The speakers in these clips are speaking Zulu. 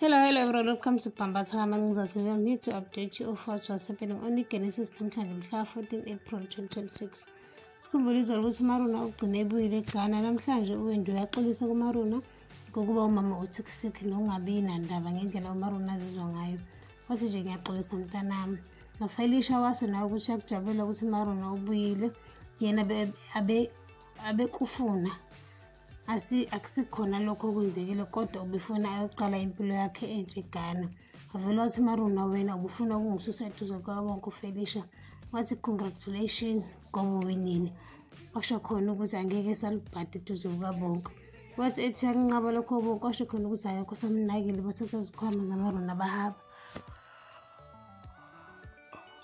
Hello, hello everyone, welcome to Pambas Hama Ngizazi I'm here to update you of what was happening on Genesis namhlanje mhla 14 April 2026. Sikhumbule izolo ukuthi uMaruna ugcine ebuyile eGhana namhlanje uWendu uyaxolisa kuMaruna ngokuba umama uthi kusikhi nokungabi nandaba ngendlela uMaruna azizwa ngayo. Wathi nje ngiyaxolisa mntanami. Nofelisha waso nawe ukuthi uyakujabulela ukuthi uMaruna ubuyile yena abe abekufuna asi akusikhona lokho okwenzekile kodwa ubefuna ayoqala impilo yakhe entsha eGhana avele wathi maruna wena ubufuna ukungisusa eduze kwabonke ufelisha wathi congratulation ngoba uwinile washo khona ukuthi angeke salubhadi eduze kukabonke wathi ethi uyakunqaba lokho obonke washo khona ukuthi akekho samnakile bathatha izikhwama zamaruna bahaba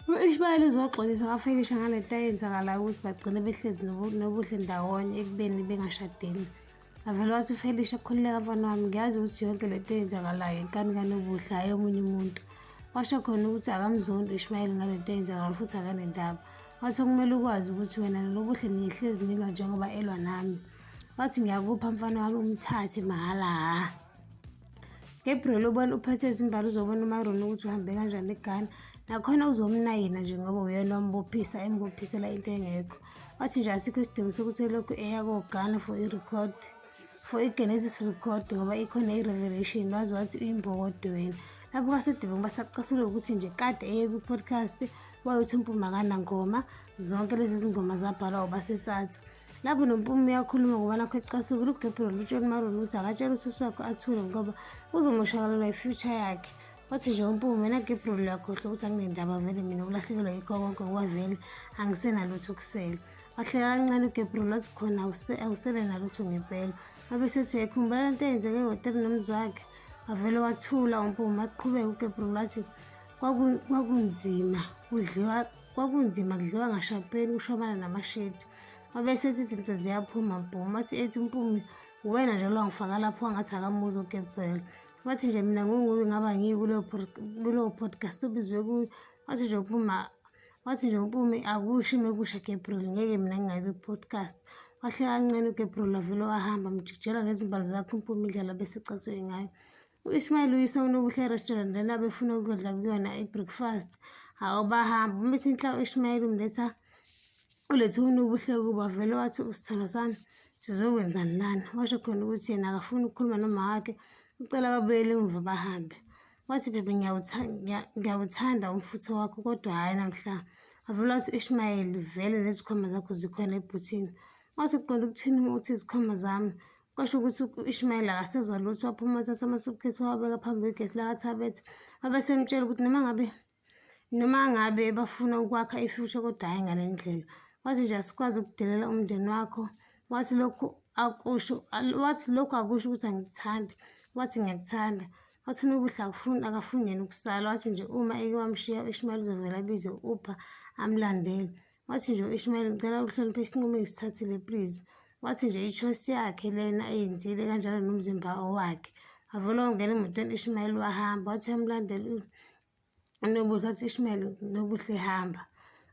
U-Ishmael uzoxolisa abafakilisha ngale nto ayenzakalayo ukuthi bagcine behlezi nobuhle ndawonye ekubeni bengashadile avele wathi ufelisha khululeka mfana wami ngiyazi ukuthi yonke le nto eyenzakalayo inkani kanobuhle hhayi omunye umuntu washo khona ukuthi akamzondi u-ishmayeli ngale nto eyenzakalayo futhi akanendaba wathi okumele ukwazi ukuthi wena lolobuhle niyehlezi nilwa njengoba elwa nami wathi ngiyakupha mfana wami umthathe mahhala hha Gabriel ubona uphethe izimbali uzobona umaroni ukuthi uhambe kanjani egana nakhona uzomnayina nje ngoba uyena wambophisa embophisela into engekho wathi nje asikho isidingo sokuthi elokhu eya kogana for i-record for i-genesis record ngoba ikhona i-revelation wazi wathi uyimbokodo wena lapho kasedebeng basacasula ukuthi nje kade eye kwi-podcast wayothi umpumakanangoma zonke lezi zingoma zabhalwa ubasetsatsa lapho nompumo uyakhuluma ngoba nakho ecasuke lugebhelo lutshoni maroni ukuthi akatshela ususi wakhe athule ngoba uzomoshakalelwa i-future yakhe wathi nje umpumo wena gebhelo uyakhohlwa ukuthi anginendaba vele mina ukulahlekelwa yikho konke ngoba vele angisenalutho kusele wahleka kancane ugebhelo wathi khona awusele nalutho ngempela wabe sethi uyayikhumbula le nto eyenzeke ehhotela nomzi wakhe wavele wathula umpumo waqhubeka ugebhelo wathi kwakunzima kudliwa Kwakunzima kudliwa ngashapeli kushobana namashedi. Wabese ethi izinto ziyaphuma bhoma athi ethi umpumi uwena nje lwangifaka lapho wangathi akamuzi uGabriel. Wathi nje mina ngungubi ngaba ngiyi kuleyo podcast obizwe kuyo. Wathi nje umpumi wathi nje umpumi akushi mekusha Gabriel ngeke mina ngingayi kwi-podcast. Wahle kancane uGabriel wavele wahamba mjikijela ngezimbali zakhe umpumi indlela bese ecasuke ngayo. U-Ismail uyise uNobuhle Restaurant lena befuna ukudla kuyona i-breakfast. Hawu bahamba uma sinhla u-Ismail umletha ulethe uNobuhle kuba vele wathi usithando sami sizokwenzani lana. Washo khona ukuthi yena akafuni ukukhuluma noma wakhe ucela babuyele emuva bahambe. Wathi bebe ngiyawuthanda umfutho wakho kodwa hhayi namhla. Wavele wathi u-Ismail vele nezikhwama zakho zikhona ebhuthini. Wathi uqonda ukuthini uma uthi izikhwama zami kwasho ukuthi u-ishmayeli akasezwa lutho waphuma uthatha amasukhithi wawabeka phambi kwegesi lakathabethe wabe semtshela ukuthi noma ngabe noma ngabe bafuna ukwakha ifuture kodwa hhayi ngale ndlela wathi nje asikwazi ukudelela umndeni wakho wathi lokhu akusho wathi lokhu akusho ukuthi angikuthandi wathi ngiyakuthanda wathi unobuhle akufuni akafuni yena ukusala wathi nje uma eke wamshiya u-ishmayeli uzovela abize u-upha amlandele Wathi nje u-Ishmael ngicela ukuhlonipha isinqumo engisithathile please. Wathi nje i-choice yakhe lena ayenzile kanjalo nomzimba owakhe. Wavula wangena emotweni u-Ishmael wahamba wathi uyamlandela uNobuhle wathi u-Ishmael Nobuhle hamba.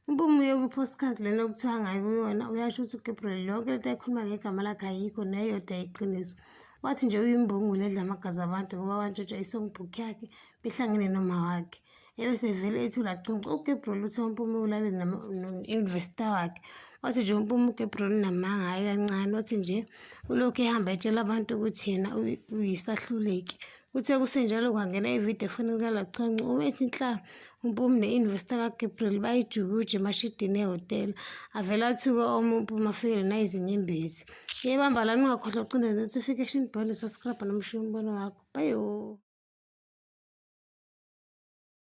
Impumi yokuphosikazi lena okuthiwa ngayo kuyona uyasho ukuthi uGabriel yonke lento ayikhuluma ngegama lakhe ayikho neyodwa iqiniso. Wathi nje uyimbungulu edla amagazi abantu ngoba wantshontsha i-songbook yakhe behlangene nomawakhe. ebese vele ethi ulaqonqa uGabriel uthe uMpume ulale no-investor wakhe wathi nje uMpume uGabriel unamanga hhayi kancane wathi nje ulokhu ehamba etshela abantu ukuthi yena uyisahluleki Kuthe kusenjalo kwangena ividiyo efonini kaLachonco obethi nhla uMpume ne-investor kaGabriel bayijukuje emashidini ehhotela. Avele athuke omu uMpume afikele nayizinyembezi. Yebamba lana ungakhohlwa ukucinda notification bell usascribe nomushiya umbono wakho. Bye.